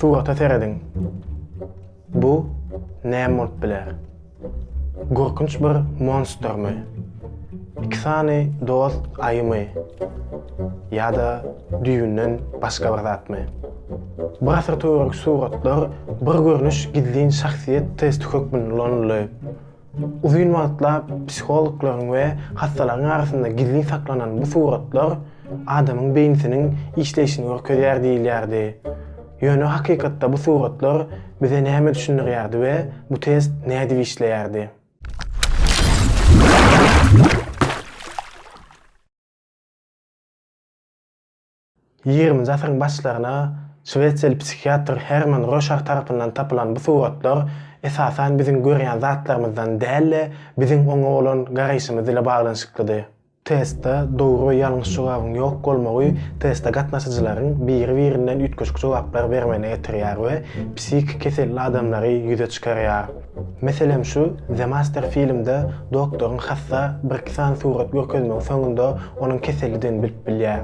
Surata serediň. Bu näme bolup biler? Gorkunç bir monstrmy? Iki sany dost aýymy? Ýa-da düýbünden başga bir zatmy? Bir asyr töweregi suratlar bir görnüş gizlin şahsyýet testi hökmünde ulanyldy. Uzyn wagtlap psihologlaryň we hassalaryň arasynda gizlin saklanan bu suratlar adamyň beýnisiniň işleýşini görkezýär diýilýärdi. Ýöne hakykatda bu suratlar bize näme düşündirýärdi we bu test nädip işleýärdi? Ýigriminji asyryň başlaryna şwesiýaly psihiatr Herman Roşar tarapyndan tapylan bu suratlar, esasan, biziň görýän zatlarymyzdan däl-de, biziň oňa bolan garaýşymyz ile baglanyşyklydy. Testde dogry we ýalňyş jogabyň ýok bolmagy teste gatnaşyjylaryň biri-birinden üýtgeşik jogaplar bermegine getirýär we psihiki keselli adamlary ýüze çykarýar. Meselem şu The Master filmde doktoryň hassa bir-iki sany surat görkezmegi soňunda onuň kesellidigini bilip bilýär.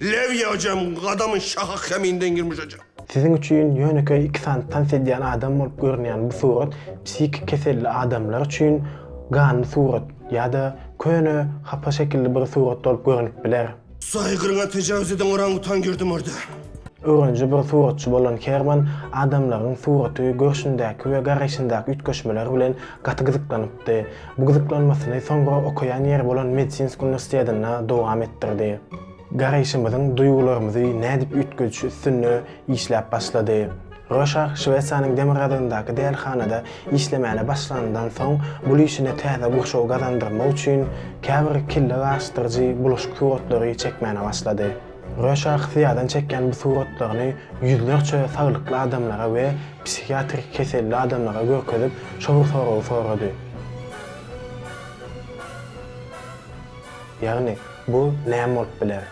Lew ýaýjam gadamyn şaha keminden girmiş ejap. Siziň üçin ýönekeý iki sany tans edýän adam bolup görünýän bu surat psihiki keselli adamlar üçin ganly surat ýa-da köne hapa şekilli bir surat bolup görünip biler. Saýgyryňa tejawuz eden orangutan girdi murda. Öwreniji bir suratçy bolan Herman adamlaryň suraty görşündäki we garaýşyndaky üýtgeşmeler bilen gaty gyzyklanypdy. Bu gyzyklanmasyny soňra okaýan ýeri bolan Medsinsk uniwersitetinde dowam etdirdi. Garaýşymyzyň duýgularymyzy nädip üýtgedişi üstünde işläp başlady. Röşah Şwesiýanyň demirgazygyndaky dälhanada işlemäne başlanyndan soň bul işine täze gurşaw gazandyrmak üçin käbir kelle gaşdyryjy bulaşyk suratlary çekmäne başlady. Röşa Xziadan çekýän bu suratlaryny ýüzlerçe saglykly adamlara we psihiatrik keselli adamlara görkezip, şol soragy sorady. Ýagny, bu näme bolup biler?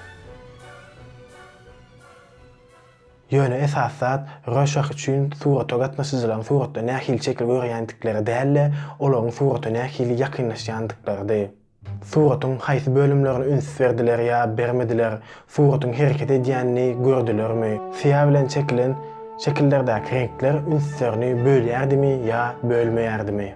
Ýöne esasy zat Röşah üçin surata gatnaşyjylaryň suratda nähili şekil görýändikleri däl-de, olaryň surata nähili ýakynlaşýandyklarydy. Suratyň haýsy bölümlerine üns berdiler ýa bermediler, suratyň hereket edýänini gördülermi, syýa bilen çekilen şekillerdäki reňkler ünslerini bölýärdimi ýa bölmeýärdimi?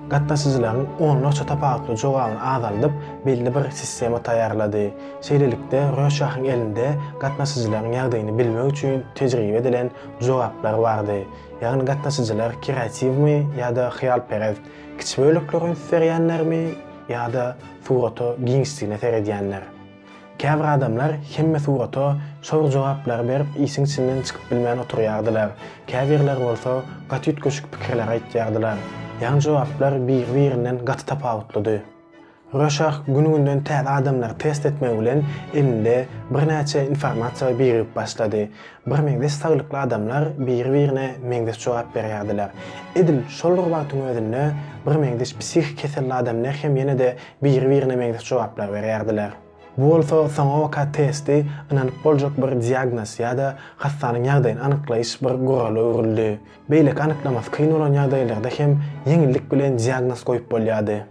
Gatnaşyjylaryň onlarça tapawutly jogabyny azaldyp, belli bir sistema taýýarlady. Şeýlelikde, Röşahyň elinde gatnaşyjylaryň ýagdaýyny bilmek üçin tejribe edilen jogaplar bardy, ýagny gatnaşyjylar kreatiwmi ýa-da hyýalperest, Kiçi bölekleri üns berýänlermi ýa-da surata giňişdigine seredýänler? Käbir adamlar hemme surata şo bir jogaplary berip işiň içinden çykyp bilmän oturýardylar, käbirleri bolsa gaty üýtgeşik pikirler aýtýardylar. Ýagny jogaplar bir-birinden gaty tapawutlydy. Röşah gün-günden täze adamlary test etmegi bilen elinde birnäçe informasiýa birigip başlady. Birmeňzeş saglykly adamlar biri-birine meňzeş jogap berýärdiler. Edil şol bir wagtyň özünde birmeňzeş psihiki keselli adamlar hem ýene-de biri-birine meňzeş jogaplar berýärdiler. Bu bolsa soňabaka testi ynanyp boljak bir diagnoz ýa-da hassanyň ýagdaýyny anyklaýyş bir gurala öwrüldi. Beýleki anyklamasy kyn bolan ýagdaýlarda hem ýeňillik bilen diagnoz goýup bolýardy.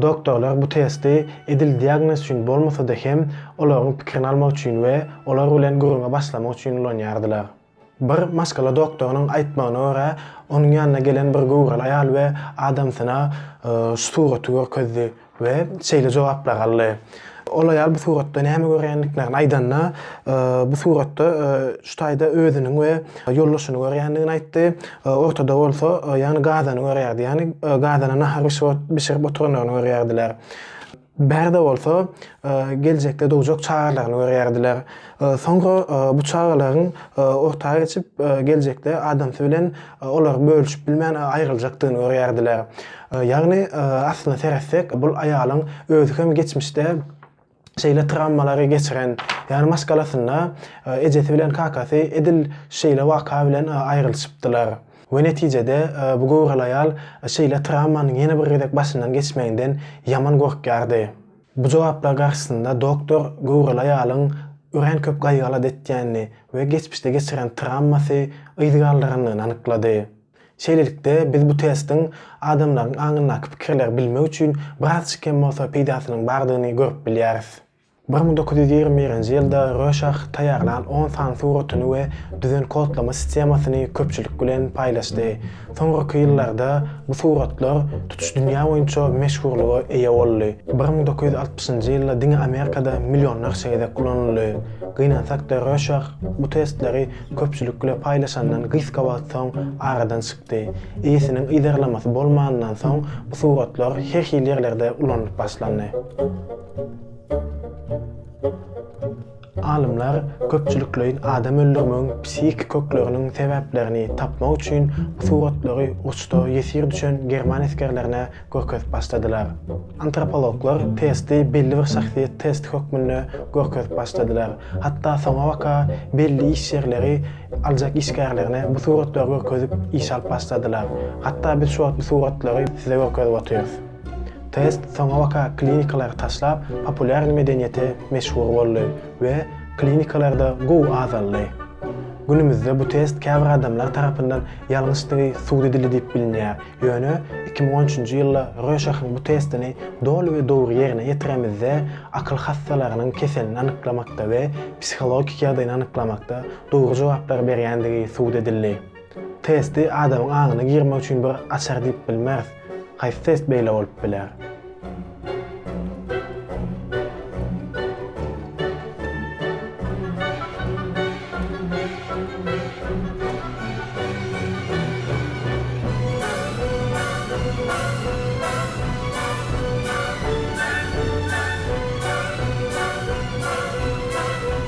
Doktorlar bu testi edil diagnoz üçin bolmasa-da hem, olaryň pikirini almak üçin we olar bilen gürrüňe başlamak üçin ulanýardylar. Bir maşgala doktorynyň aýtmagyna görä, onuň ýanyna gelen bir göwreli aýal we adamsyna şu suraty görkezdi we şeýle jogaplar aldy, Ol aýal bu suratda näme görýändiklerini aýdanda, bu suratda şu taýda özüniň we ýoldaşyny görýändigini aýtdy. Ortada bolsa, ýagny gazany görýärdi. Ýagny gazana nahar bişirip bişirip oturandygyny görýärdiler. Bärde bolsa, geljekde dogjak çagalaryny görýärdiler. Soňra bu çagalaryň orta geçip, geljekde adamsy bilen olary bölüşip bilmän aýryljakdygyny görýärdiler. Ýagny, aslyna seretsek, bul aýalyň özi hem geçmişde şeýle trawmalary geçiren, ýagny maşgalasynda ejesi bilen kakasy edil şeýle waka bilen aýrylyşypdylar we netijede bu göwreli aýal şeýle trawmanyň ýene bir gezek başyndan geçmeginden ýaman gorkýardy. Bu jogaplar garşysynda doktor göwreli aýalyň örän köp gaýgy-alat etýänini we geçmişde geçiren trawmasy yz galdyrandygyny anyklady. Şeýlelikde, biz bu testiň adamlaryň aňyndaky pikirleri bilmek üçin birazçyk hem bolsa peýdasynyň bardygyny görüp bilýäris. Bir müň dokuz ýüz ýigrimi birinji ýylda Röşah taýýarlan on sany suratyny we düzen kodlama sistemasyny köpçülik bilen paýlaşdy. Soňurky ýyllarda bu suratlar tutuş dünýä boýunça meşhurlyga eýe boldy. Bir müň dokuz ýüz altmyşynjy ýylda diňe Amerikada millionlarça gezek ulanyldy. Gynansak-da Röşah bu testleri köpçülik bile paýlaşandan gysga wagt soň aradan çykdy. Eýesiniň yzarlamasy bolmanyndan soň bu suratlar her hili ýerlerde ulanylyp başlandy. Alymlar köpçülikleýin adam öldürmegiň psihiki kökleriniň sebäplerini tapmak üçin suratlary uruşda ýesir düşen german esgerlerine görkezip başladylar. Antropologlar testi belli bir şahsyýet testi hökmünde görkezip başladylar. Hatda soňabaka belli iş ýerleri aljak işgärlerine bu suratlary görkezip iş alyp başladylar. Hatda biz şu wagt bu suratlary size görkezip otyrys. Test soňa waka klinikalary taşlap, populýarny medeniýete meşhur boldy we klinikalarda gowy azaldy. Günümizde bu test käbir adamlar tarapyndan ýalňyşdygy sud edildi diýip bilinýär, ýöne iki müň on üçünji ýylda Röşahyň bu testini doly we dogry ýerine ýetiremizde akyl hassalarynyň keselini anyklamakda we psihologik ýagdaýyny anyklamakda dogry jogaplary berýändigi sud edildi. Testi adamyň aňyna girmek üçin bir açar diýip bilmeris. Haýsy test beýle bolup biler?